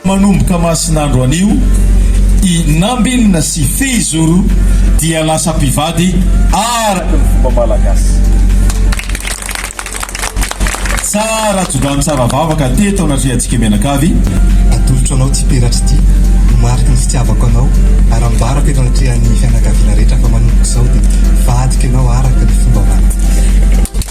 Manomboka masin'andro anio, i Nambin sy Fehizoro dia lasa mpivady araka ny fomba malagasy. Tsara tso-drano tsara vavaka teto anatrehantsika mianakavy. Atolotro anao ity peratra ity ho mariky ny fitiavako anao ary ambarako eto anatrehan'ny fianakaviana rehetra fa manomboka izao dia vadiko ianao araka ny fomba malagasy.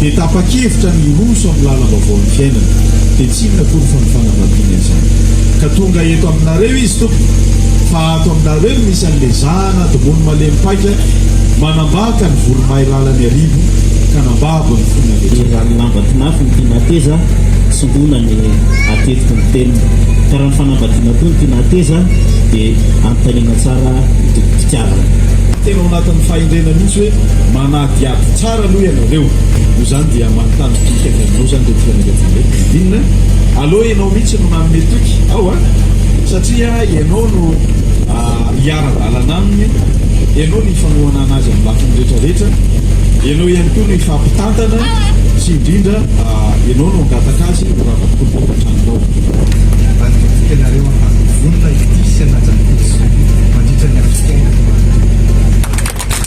dia tapa-kevitra ny hiroso amin'ny lalam-baovaon'ny fiainana, dia tsy inona akory fa ny fanambadiana izany. Ka tonga eto aminareo izy, tompoko, fa ato aminareo no misy an'ilay zana domony malemy paika manambaka ny voromahay lalan'ny arivo ka nambabo ny fon'ny andriatr'anjely. Efa ny lamba tinafy no tiana hateza, tsy hoana ny hatetika ny teniny. Ka raha ny fanambadiana koa no tiana hateza, dia anontaniana tsara ny tompom-pitiavana. Tena ao anatin'ny fahendrena mihitsy hoe manadihady tsara. Tsara aloha ianareo no zany dia manontany toky avy aminao zany reto fianakaviana reto dia inona? Aleo ianao mihitsy no manome toky ao a! satria ianao no hiara-dalana aminy, ianao no hifanohanana azy amin'ny lafiny rehetra rehetra, ianao ihany koa no hifampitantana sy indrindra ianao no hangataka azy ho rava-kolona eto an-tranonao. Ambadika toky ianareo hahazo vonona hitia sy hanaja ny Tompo mandritra ny andro fiainana ianareo.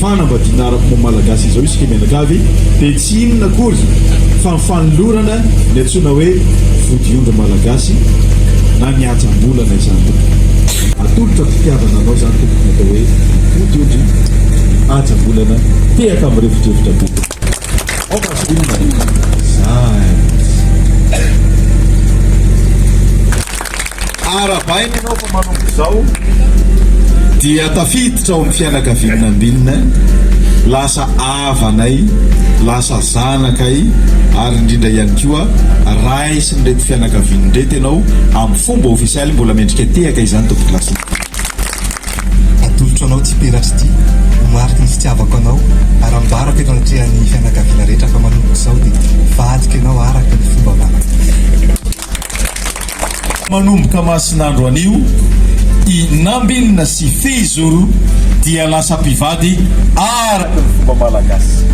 Fanambadiana ara-pomba-malagasy izao isika mianakavy dia tsy inona akory fa ny fanolorana ny antsoina hoe vodiondry malagasy na ny ajam-bolana izany tompoko. Atolotra am-pitiavana anao izany tompoko ny atao hoe vodiondry, ajam-bolana tehaka mirefodrefotra be. Ao Vaseline e! Zay! Arahabaina ianao fa manomboka izao dia tafiditra ao amin'ny fianakavian'ny Nambinina, lasa havanay, lasa zanakay ary indrindra ihany koa raisin'ireto fianakaviana ireto ianao amin'ny fomba ofisialy, mbola mendrika tehaka izany Tompoko Lasina. Atolotro anao Tsipiratry ity ho mariky ny fitiavako anao ary ambarako eto anatrehan'ny fianakaviana rehetra fa manomboka izao dia vadiko ianao araka ny fomba manana. Manomboka masin'andro anio, i Nambinina sy Fehizoro dia lasa mpivady araka ny fomba malagasy.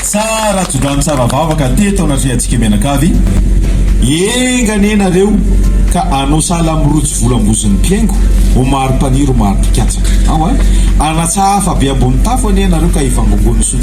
Tsara tsodrano tsara vavaka teto anatrehantsika mianakavy, enga anie nareo ka anao sahala amin'ny rojo volambozin'ny mpihaingo, ho mari-paniry ho mari-pikatsaka. Ao an! Anatsahafa be ambony tafo anie nareo ka hivangongoan'ny soa